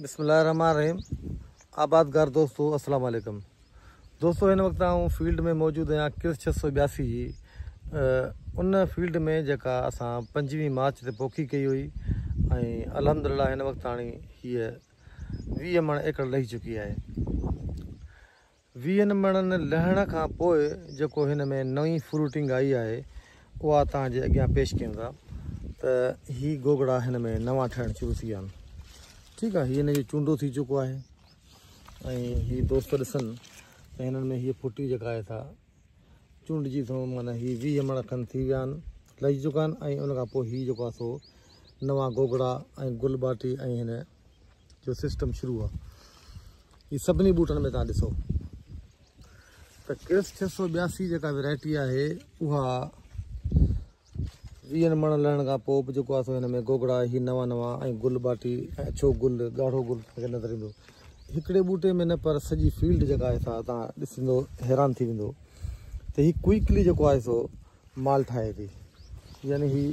بسم الله الرحمٰن الرحيم آبادگار دوستو السلام عليڪم دوستو هن وقت آئون فيلڊ ۾ موجود آهيان ڪرس ڇهه سؤ ٻياسي جي ان فيلڊ ۾ جيڪا اسان پنجويهه مارچ تي پوکي ڪئي هئي ۽ الحمد لله هن وقت آڻي هيء ويهه مڻ ايڪڙ لهي چڪي آهي ويهن مڻن لهڻ کان پوء جيڪو هن ۾ نئين فروٽنگ آئي آهي اها توهان جي اڳيان پيش ڪيون ٿا ته هي گوگڙا هن ۾ نوان ٺهڻ شروع ٿي ويا آهن ٺيڪ آهي هي هن جو چونڊو ٿي چڪو آهي ۽ هي دوست ڏسن ته هنن ۾ هي ڦٽي جيڪا آهي سا چونڊجي ٿو معنی هي ويهه مڻ کن ٿي ويا آهن لهي چڪا آهن ۽ ان کان پوء هي جيڪو آهي سو نوان گوگڙا ۽ گل ٻاٽي ۽ هن جو سسٽم شروع آ هي سڀني ٻوٽن ۾ تان ڏسو ته ڪرس ڇهه سو ٻياسي جيڪا ويرائٽي آهي اها ويهن مڻ لهڻ کان پوء به جيڪو آسو هن ۾ گوگڙا هي نوان نوان ۽ گل ٻاٽي ۽ اڇو گل ڳاڙهو گل کي نظر ايندو هڪڙي ٻوٽي ۾ نه پر سڄي فيلڊ جيڪا آهي سا تان ڏسندو حيران ٿي ويندو ته هي ڪوئڪلي جيڪو آهي سو مال ٺاهي ٿي يعني هي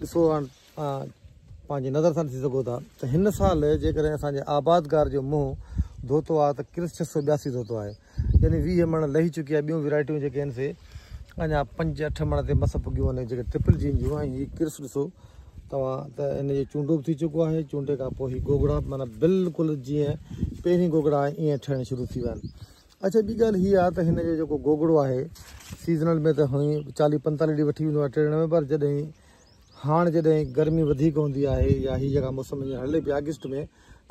ڏسو هاڻ پنهنجي نظر سان ڏسي سگهو ٿا ته هن سال جيڪڏهن اسان جي آبادگار جو منهن ڌوتو آهي ته ڪرس ڇهه سو ٻياسي ڌوتو آهي يعني ويهه مڻ لهي چڪي آهي ٻيون ويرائٽيون جيڪي آهن سي اڃا پنج اٺ مڻ تي مس پڳيون آهن جيڪي ٽرپل جين جون ۽ هي ڪرس ڏسو توهان ته هن جو چونڊو به ٿي چڪو آهي چونڊي کان پوء هي گوگڙا مانا بلڪل جيئن پهرين گوگڙا آهي ائين ٺهڻ شروع ٿي ويا آهن اچھا ٻي ڳالهه هي آهي ته هن جو جيڪو گوگڙو آهي سيزنل ۾ ته هئي چاليهه پنجتاليهه ڏينهن وٺي ويندو آهي ٽيڙڻ ۾ پر جڏهن هاڻ جڏهن گرمي وڌيڪ هوندي آهي يا هي جيڪا موسم هينئر هلي پئي آگسٽ ۾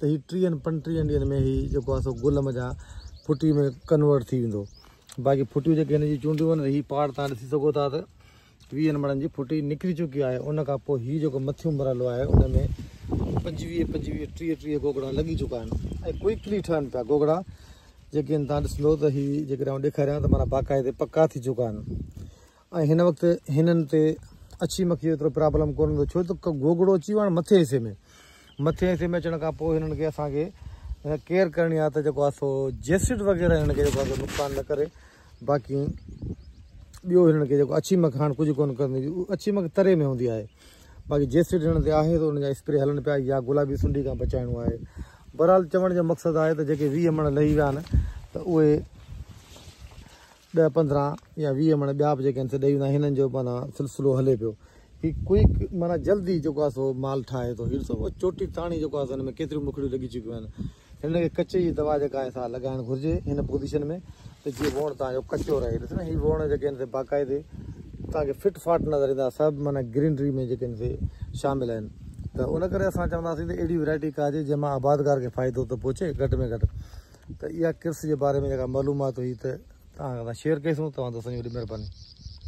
ته هي ٽيهن پنجٽيهن ڏينهن ۾ هي جيڪو آهي سو گل مجان ڦٽي ۾ ڪنورٽ ٿي ويندو باقي ڦٽيون جيڪي هن جي چونڊيون آهن هي پاڙ تان ڏسي سگهو ٿا ته ويهن مڙن جي ڦٽي نڪري چڪي آهي ان کان پوء هي جيڪو مٿيون مرحلو آهي ان ۾ پنجويهه پنجويهه ٽيهه ٽيهه گوگڙا لڳي چڪا آهن ۽ ڪوئڪلي ٺهن پيا گوگڙا جيڪي تان ڏسندو ته هي جيڪڏهن ڏيکاريان ته مانا باقاعدي پڪا ٿي چڪا آهن ۽ هن وقت هنن تي اڇي مکي جو ايترو پرابلم ڪونه هوندو ڇو ته گوگڙو اچي ويو آهي مٿين حصي ۾ مٿين حصي ۾ اچڻ کان پوء هنن کي اسان کي ڪيئر ڪرڻي آهي ته جيڪو آهي سو جيسڊ وغيره هنن کي جيڪو نقصان نه ڪري باقي ٻيو هنن کي جيڪو اڇي مک هاڻ ڪجهه ڪونه ڪندي اڇي مک تري ۾ هوندي آهي باقي جيسڊ هنن تي آهي ته ان جا اسپري هلن پيا يا گلابي سنڊي کان بچائڻو آهي بهرحال چوڻ جو مقصد آهي ته جيڪي ويهه مڻ لهي ويا آهن ته اهي ڏهه پندرهن يا ويهه مڻ ٻيا به جيڪي آهن سي ڏئي ويندا آهن هنن جو معنيٰ سلسلو هلي پيو هي ڪوئڪ معنيٰ جلدي جيڪو آهي سو مال ٺاهي ٿو هي ڏسو اهو چوٽي تاڻي جيڪو آهي سو هن ۾ ڪيتريون مکڙيون لڳي چڪيون آهن هن کي ڪچي جي دوا جيڪا آهي سا لڳائڻ گهرجي هن پوزيشن ۾ ته جيئن ووڻ تان جو ڪچو رهي ڏس نه هي ووڻ جيڪي آهن سي باقاعدي تان کي فٽ فاٽ نظر ايندا سڀ معنيٰ گرينري ۾ جيڪي آهن سي شامل آهن ته ان ڪري اسان چونداسين ته اهڙي ويرائٽي ڪاهجي جنهن مان آبادگار کي فائدو ته پهچي گهٽ ۾ گهٽ ته اها ڪرس جي باري ۾ جيڪا معلومات هئي ته توهان سان شيئر ڪئي سون توهان دوستن جي وڏي مهرباني.